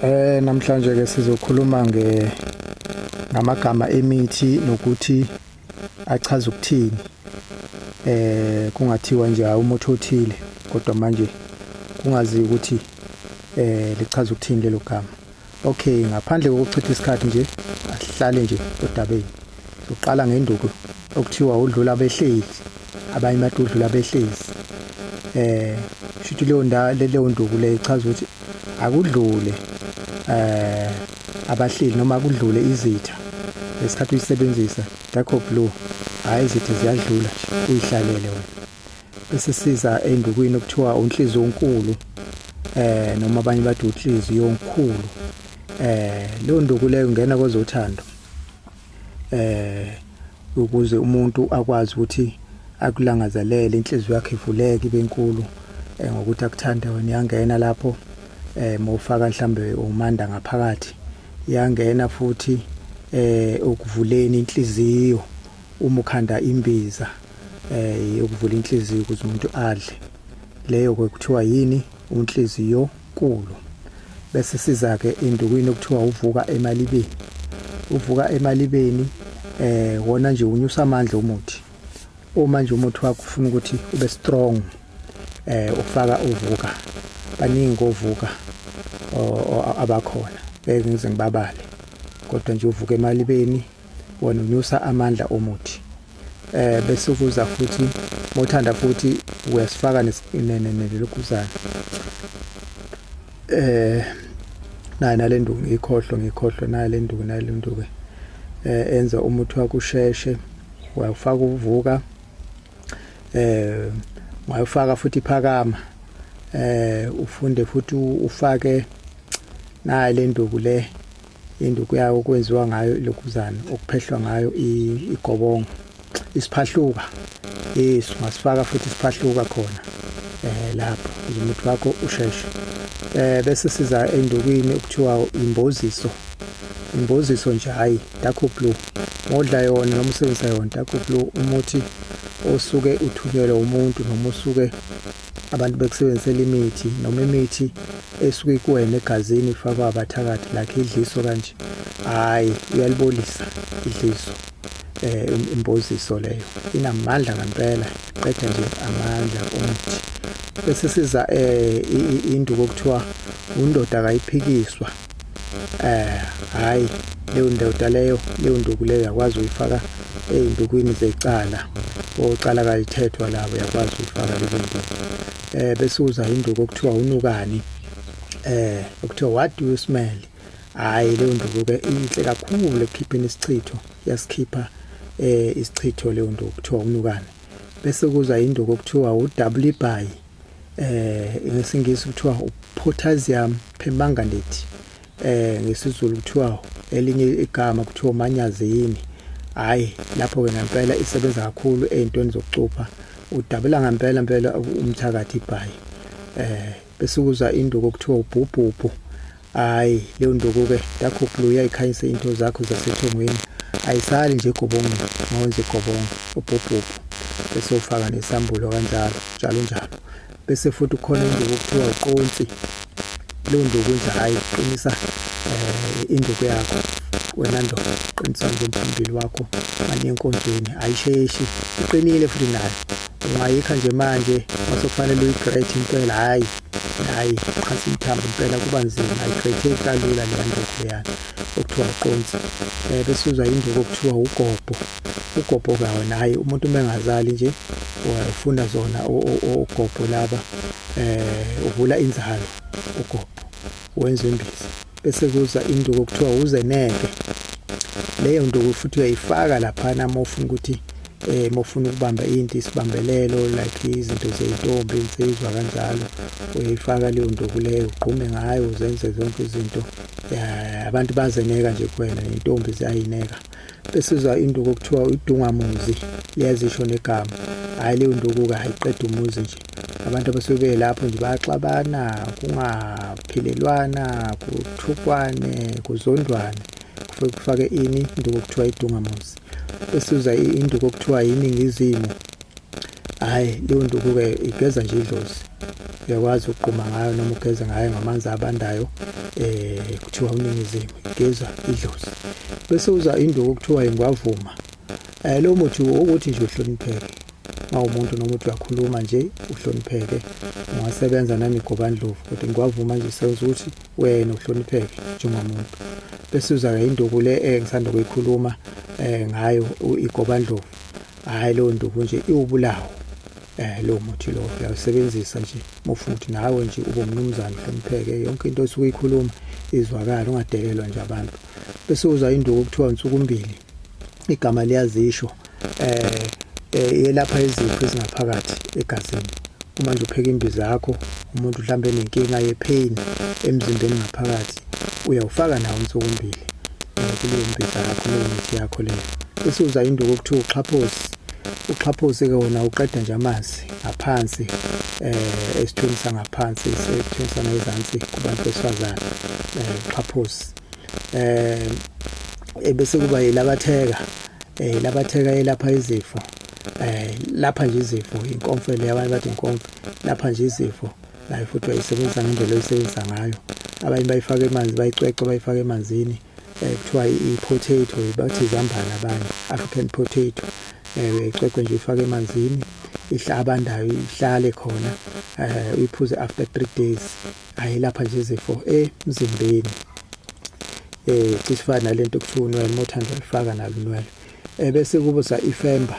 Eh namhlanje ke sizokhuluma nge ngamagama emithi nokuthi achaza ukuthini. Eh kungathiwa nje umuthi othile kodwa manje kungazi ukuthi eh lichaza ukuthini lelo gama. Okay, ngaphandle kokuchitha isikhathi nje, asihlale nje odabeni. Soqala ngenduku okuthiwa udlula behleli, abanye bathi udlula behlezi. Eh, shuthi leyo ndawo leyo nduku le ichaza ukuthi akudlule eh abahleli noma kudlule izitha ngesikhathi uyisebenzisa ngakho blue hayi izitha ziyadlula uyihlalele wena esisiza endukwini okuthiwa unhliziyo onkulu eh noma abanye bathi unhliziyo onkulu eh leyo nduku leyo ungena kwezothando eh ukuze umuntu akwazi ukuthi akulangazelele inhliziyo yakhe ivuleke ibe nkulu eh, ngokuthi akuthanda wena yangena lapho eh mawufaka mhlambe umanda ngaphakathi yangena futhi eh ukuvuleni inhliziyo Uma ukhanda imbiza eh yokuvula inhliziyo ukuze umuntu adle leyo kwekuthiwa yini unhliziyo kulu bese siza ke indukwini okuthiwa uvuka emalibeni uvuka emalibeni eh wona nje unyusa amandla umuthi uma nje umuthi wakho ufuna ukuthi ube strong eh ufaka uvuka baningi kovuka abakhona ngeke ngize ngibabale kodwa nje uvuka emalibeni wena unyusa amandla omuthi eh bese ukuza futhi mothanda futhi uyasifaka nelokuzana eh nayo nalenduku ngikhohlwe ngikhohlwe nayo lenduku nayo lenduku eh enza umuthi wakusheshe wayofaka uvuka eh wayofaka futhi phakama eh ufunde futhi ufake nayo lenduku le Induku yayo okwenziwa ngayo ilokhuzana okuphehlwa ngayo igobongo isiphahluka yes ungasifaka futhi isiphahluka khona eh lapho umuthi wakho usheshe eh bese siza endukwini okuthiwa imboziso imboziso nje hayi dark blue modla yona noma usebenzisa yona dark blue umuthi osuke uthunyelwe umuntu noma usuke abantu bekusebenzisela imithi noma imithi esuke ikuwena egazini ifakwa abathakathi lakhe idliso kanje hayi uyalibolisa idliso eh imboziso leyo inamandla ngempela qeda nje amandla omuthi bese siza eh induku okuthiwa undoda akayiphikiswa eh hayi leyo ndoda leyo leyo nduku leyo yakwazi uyifaka ezindukwini zecala ocala kalithethwa labo yakwazi uyifaka leyo nduku eh bese uza induku okuthiwa unukani eh okuthiwa what do you smell hayi leyo nduku ke inhle kakhulu ekukhipheni isichitho yasikhipha eh isichitho leyo nduku kuthiwa unukani bese kuza induku okuthiwa uWBY eh ngesingisi kuthiwa upotassium permanganate eh ngesizulu kuthiwa elinye igama kuthiwa umanyazini hayi lapho ke ngempela isebenza kakhulu ezintweni zokucupha udabula ngempela impela umthakathi ibhayi eh bese kuza induku kuthiwa ubhubhubhu Hayi leyo ndukuke yakho blue yayikhanyisa into zakho zasethongweni ayisali nje gobongo ngonje gobongo ubhubhubhu bese ufaka nesambulo kanjalo njalo njalo bese futhi ukhona induku okuthiwa uqonsi leyo nduku nje hayi qinisa um induku yakho wena ndoda qinisa nje umphambili wakho mane enkonzweni ayisheshi iqinile futhi nayo Ungayikha nje manje mase kufanele uyigrate impela hayi hayi qhasa imthambo impela kuba nzima ayigretheki kalula leya nduku leyana okuthiwa uqonsi um eh, bese uzwa induku okuthiwa ugobho ugobho-ke wona hhayi umuntu uma engazali nje ufuna zona ogobho laba um uvula inzalo ugobho wenza imbiza bese kuza induku okuthiwa uzeneke leyo nduku futhi uyayifaka laphana uma ufuna ukuthi eh mofuna ukubamba into isibambelelo like izinto zezintombi insizwa kanjalo uyifaka leyo nduku leyo ugqume ngayo uzenze zonke izinto abantu bazeneka nje kuwena intombi ziyayineka Besizwa induku okuthiwa uDungamuzi liyazisho negama. Hayi leyo nduku-ke ayiqeda umuzi nje. Abantu abasuke belapho nje bayaxabana, kungaphilelwana, kuthukwane, kuzondwane. Kufuke kufake ini induku okuthiwa iDungamuzi. Besizwa induku okuthiwa yiNingizimu Hayi leyo nduku-ke igeza nje idlozi uyakwazi ukugquma ngayo noma ugeze ngayo ngamanzi abandayo eh kuthiwa uningizimu igeza idlozi bese uza induku kuthiwa ingwavuma eh lo muthi ukuthi nje uhlonipheke mawumuntu noma uthi uyakhuluma nje uhlonipheke ungasebenza nanigobandlovu kodwa ingwavuma nje senza ukuthi wena uhlonipheke njengomuntu bese uza-ke induku le engisanda kuyikhuluma um ngayo igobandlovu hayi leyo nduku nje iwubulawo eh lo muthi lo uyawusebenzisa nje mufuna ukuthi nawe nje ube umnumzane uhlonipheke yonke into osuke uyikhuluma izwakala ungadelelwa nje abantu bese uza induku kuthiwa insuku mbili igama liyazisho eh, eh yelapha izifo ezingaphakathi egazini uma nje upheka imbiza yakho umuntu mhlambe nenkinga yepain emzimbeni ngaphakathi Uyawufaka nawo umthokombili eh, kuleyo mbhiza yakho leyo mithi yakho leyo bese uza induku okuthiwa uxhaphosi uxhaphosi-ke wona uqeda nje amanzi ngaphansi eh esithweni sangaphansi esithweni sangezansi kubantu besifazane eh uxhaphosi eh ebese kuba yilabatheka eh labatheka elapha izifo eh lapha nje izifo inkomfele abantu bathi inkomfo lapha nje izifo nayo futhi bayisebenzisa ngendlela oyisebenzisa ngayo abanye bayifaka emanzi bayicwece bayifaka emanzini um kuthiwa i-potato bathi izambane abanye african potato um uyayicwece nje ifake emanzini abandayo ihlale khona um uyiphuze after three days ayelapha nje izifo emzimbeni um cisifana nale nto kuthiwa unwele uma uthanda ulifaka nalo unwele Eh, bese kubuza ifemba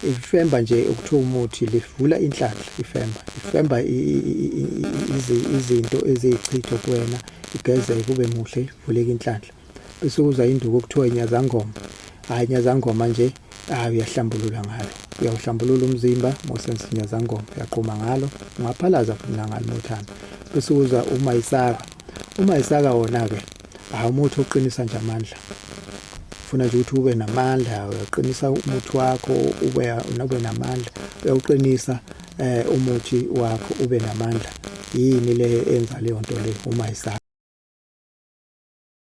ifemba nje ukuthiwa umuthi livula inhlanhla ifemba ifemba izinto eziyichitho kuwena igeze kube muhle ivuleke inhlanhla bese kuza induku okuthiwa inyazangoma hayi inyazangoma nje hayi uyahlambulula ngalo uyawuhlambulula umzimba mosense inyazangoma uyaqhuma ngalo ungaphalaza futhi nangalo nothando bese kuza uma isaka Uma isaka wona-ke hhayi umuthi oqinisa nje amandla funa nje ukuthi ube namandla uyaqinisa umuthi wakho ube ube namandla uyawuqinisa eh umuthi wakho ube namandla yini le enza leyo nto le uma isaka